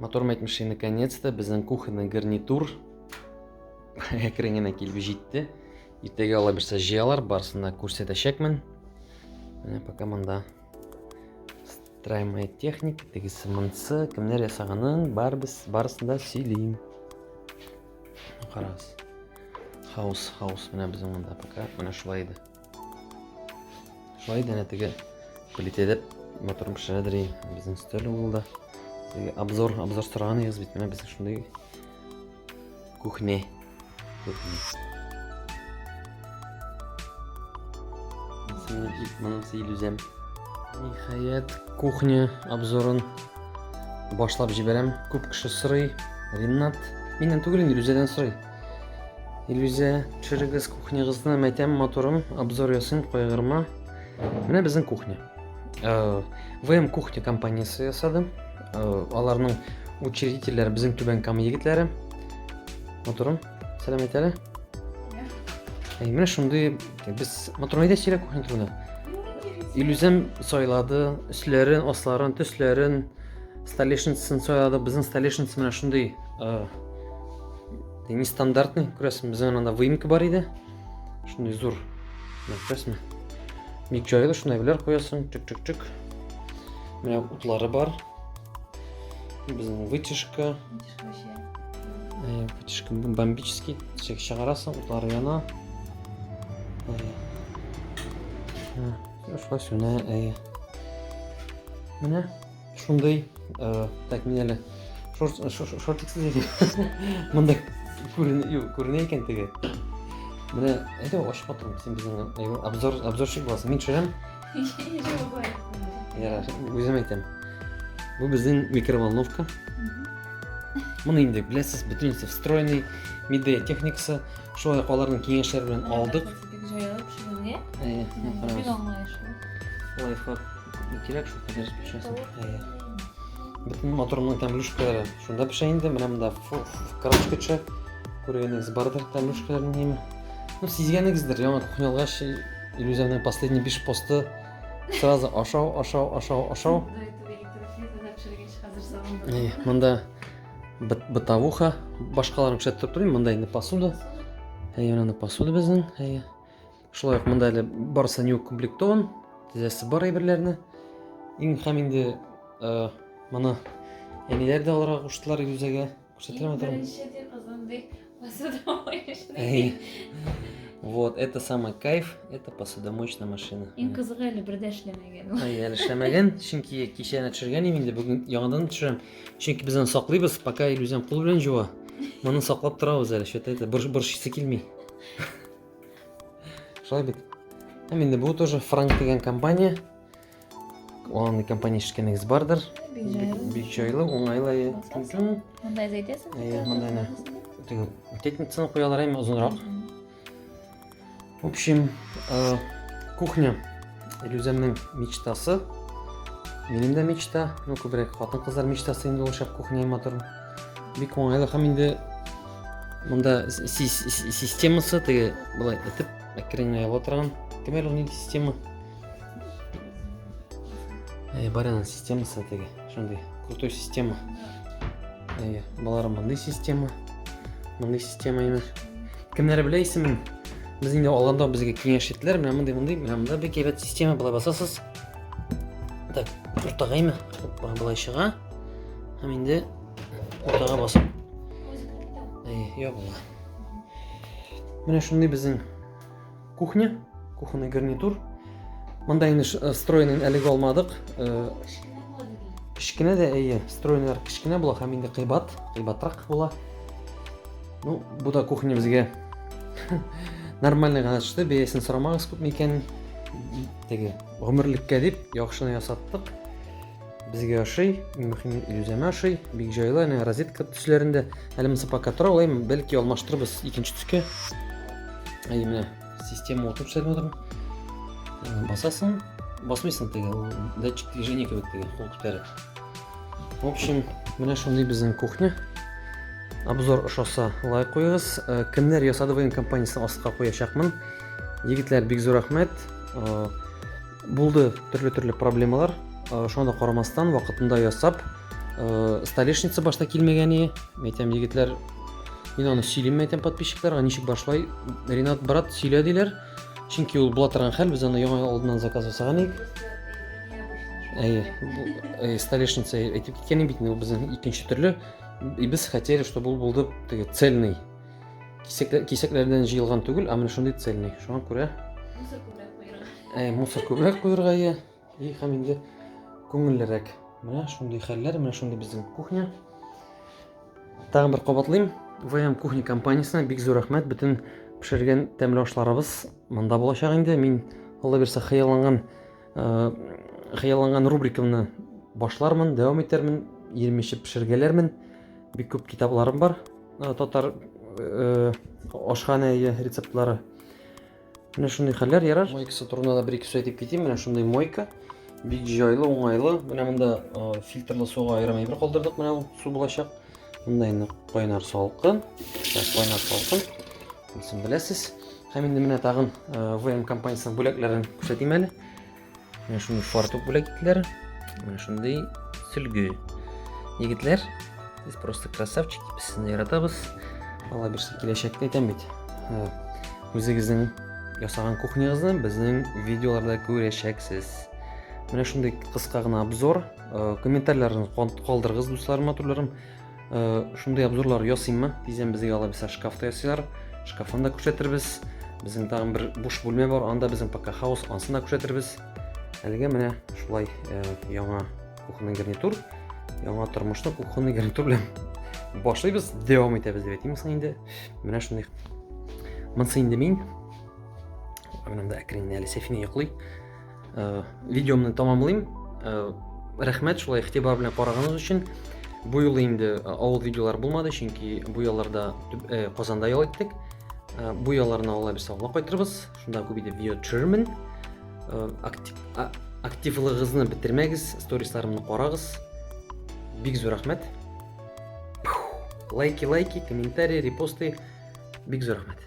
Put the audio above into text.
Мотор мәйтмеши, наконец-то, безнең кухонный гарнитур әкрен генә килеп җитте. Иртәгә ала бирсә җыялар, барысын да күрсәтәчәкмен. Менә пока монда строимая техника, тегесе монсы, кемнәр ясаганын барбыз, барысын да сөйлим. Карагыз. Хаус, хаус менә безнең монда пока менә шулай иде. Шулай да әнә теге плитәдә моторым пешерәдер и безнең өстәл булды. Теге обзор, обзор сораган идегез бит, менә безнең шундый кухня. Кухня. Моның сыйл үзем. Ниһаять, кухня обзорын башлап җибәрәм. Күп кеше сорый. Ринат, миннән түгел инде, Люзәдән сорый. Илюзә, төшерегез кухнягызны, мәйтәм моторын, обзор ясыйм, кайгырма. Менә безнең кухня. Э, ВМ кухня компаниясе ясады. Э, аларның учредительләре безнең Түбән Кама егетләре. Моторым, сәлам әйтәле. Ә менә шундый без моторны әйдә сөйлә кухня турында. Илюзәм сайлады, өсләрен, асларын, төсләрен, столешницасын сайлады. Безнең столешница менә шундый. Э, нестандартный күрәсең безнең анда выемка бар иде шундый зур күрәсеңме ник җайлы шуны әйберләр куясың чик чик чик менә утлары бар безнең вытяжка вытяжка бомбический чек чыгарасың утлары яна шулай сүнә әйе менә Шундый, э, так мин әле шортиксыз иде. Монда күренә икән теге. Менә әйдә ачып атырам, син безнең обзор обзорщик буласың. Мин төшерәм. Ярар, үзем әйтәм. Бу безнең микроволновка. Моны инде беләсез, бөтенесе встроенный, миде техникасы, шулай аларның киңәшләре белән алдык. Бик җайлы пешерүгә. Әйе, карагыз. Бик аңлаешлы. Лайфхак кирәк шул кадәр пешәсен. Әйе. Бөтен моторның тәмлүшкәләре. Шунда пешә инде, менә монда крашка төшә. Күргәнегез бардыр тәмлүшкәләрен неме? Ну, сизгәнегездер, яңа кухня алгач, Илюзәнең последний биш посты сразу ашау, ашау, ашау, ашау. Әйе, монда бытовуха башкаларын күрсәтеп торыйм монда инде посуда әйе менә посуда безнең әйе шулай ук монда әле барысы не укомплектован тезәсе бар әйберләрне иң һәм инде э, моны әниләр дә алырга куштылар юзәгә күрсәтерәм беренче ди кызым ди Посудомоечный. Вот, это самый кайф, это посудомоечная машина. Иң кызыгы әле бер дә эшләмәгән. Ай, әле эшләмәгән, чөнки кичәне төшергән идем инде, бүген яңадан төшерәм. Чөнки без аны саклыйбыз, пока Илюзем кул белән җуа. Моны саклап торабыз әле, что-то это борщ борщысы килми. Шулай бит. Һәм инде бу тоже Франк дигән компания. Аңлы компания эшкәнегез бардыр. Бик җайлы, уңайлы. Монда әзәйтәсең? Әйе, монда әнә. Теге тетницаны куялар әйме озынрак. В общем, э, кухня Илюзәмнең мечтасы. Минем дә мечта, ну күбрәк хатын-кызлар мечтасы инде ул шәп кухня матур. Бик уңайлы һәм инде монда системасы теге былай итеп әкренләп ала торган. Кемәл ул нинди система? Әй, бар ана системасы теге, шундый крутой система. Әй, балалар мондый система. Мондый система ина. Кемнәр белә исемен? Без инде алганда безгә киңәш иттеләр, менә мондый, мондый, менә монда бик әйбәт система була басасыз. Так, уртагаймы? Бар була чыга. Һәм инде уртага басып. Әй, я була. Менә шундый безнең Кухня, кухонный гарнитур. Монда инде э, стройный әлеге алмадык. Э, кечкенә дә әйе, стройныйлар кечкенә була һәм инде кыйбат, кыйбатрак була. Ну, бу да кухня безгә нормальный гына төште, бәясен сорамагыз күпме икәнен. Теге гомерлеккә дип яхшыны ясаттык. Безгә ошый, иң мөһиме Илүзәмә ошый. Бик җайлы, әнә розетка төсләрендә. Әле монысы пока тора, алай бәлки алмаштырырбыз икенче төскә. Әй менә система утырып сәлмә утырмы? Э, басасың, басмыйсың теге, ул датчик движения кебек теге, кул күтәрә. В общем, менә шундый безнең кухня. Обзор ошаса лайк куегыз. Э, кемнәр ясады быйын компаниясен астка куячакмын. Егетләр бик зур рәхмәт. Э, Булды төрле-төрле проблемалар. Э, шуңа да карамастан, вакытында ясап, э, столешница башта килмәгән ие. Мен әйтәм, егетләр, мин аны сөйлим, әйтәм подписчикларга, ничек башлай? Ренат брат сөйлә диләр. Чөнки ул була торган хәл, без аны яңа алдыннан заказ ясаган идек. Әйе, э, столешница әйтеп киткән бит, ул безнең икенче төрле. И без хотели, чтобы ул булды цельный. кисәкләрдән җыелган түгел ә менә шундый цельный шуңа күрә мусор күбрәк куерга иә и һәм инде күңеллерәк менә шундый хәлләр менә шундый безнең кухня тагын бер кабатлыйм вм кухня компаниясенә бик зур рәхмәт бөтен пешергән тәмле ашларыбыз монда булачак инде мин алла бирсә хыялланган хыялланган рубрикамны башлармын дәвам итәрмен ирем эчеп пешергәләрмен бик күп китапларым бар Татар э, ашханә рецептлары. Менә шундый хәлләр ярар. Мойкасы турында да бер-ике сүз әйтеп китим. Менә шундый мойка. Бик җайлы, уңайлы. Менә монда э, фильтрлы суга аерым әйбер калдырдык. Менә ул су булачак. Монда инде кайнар салкын. Кайнар салкын. Сез беләсез. Һәм инде менә тагын э, ВМ компаниясенең бүләкләрен күрсәтим әле. Менә шундый фартук бүләк иттеләр. Менә шундый сөлге. Егетләр, сез просто красавчик, без сезне яратабыз. Алла бирсә киләчәктә әйтәм бит. Үзегезнең ясаган кухнягызны безнең видеоларда күрәчәксез. Менә шундый кыска гына обзор. Э, Комментарийларыгызны калдырыгыз, дусларым, матурларым. Э, шундый обзорлар ясыйммы дисәм безгә алай булса шкафта ясыйлар шкафын да күрсәтербез безнең тагын бер буш бүлмә бар анда безнең пока хаус анысын да күрсәтербез әлегә менә шулай э, яңа кухонный гарнитур яңа тормышны кухонный гарнитур белән башлыйбыз дәвам итәбез дип әйтимме соң инде менә шундый монысы инде мин менә монда әкренләп әле сәфинә йоклый Э, видеомны тамамлыйм э, рәхмәт шулай игътибар белән караганыгыз өчен бу юлы инде э, авыл видеолар булмады чөнки бу ялларда казанда ял иттек бу ялларны алла бирсә алла кайтырбыз шунда күп итеп видео төшерермен активлыгыгызны бетермәгез сторисларымны карагыз бик зур рәхмәт лайки лайки комментарий репосты бик зур рәхмәт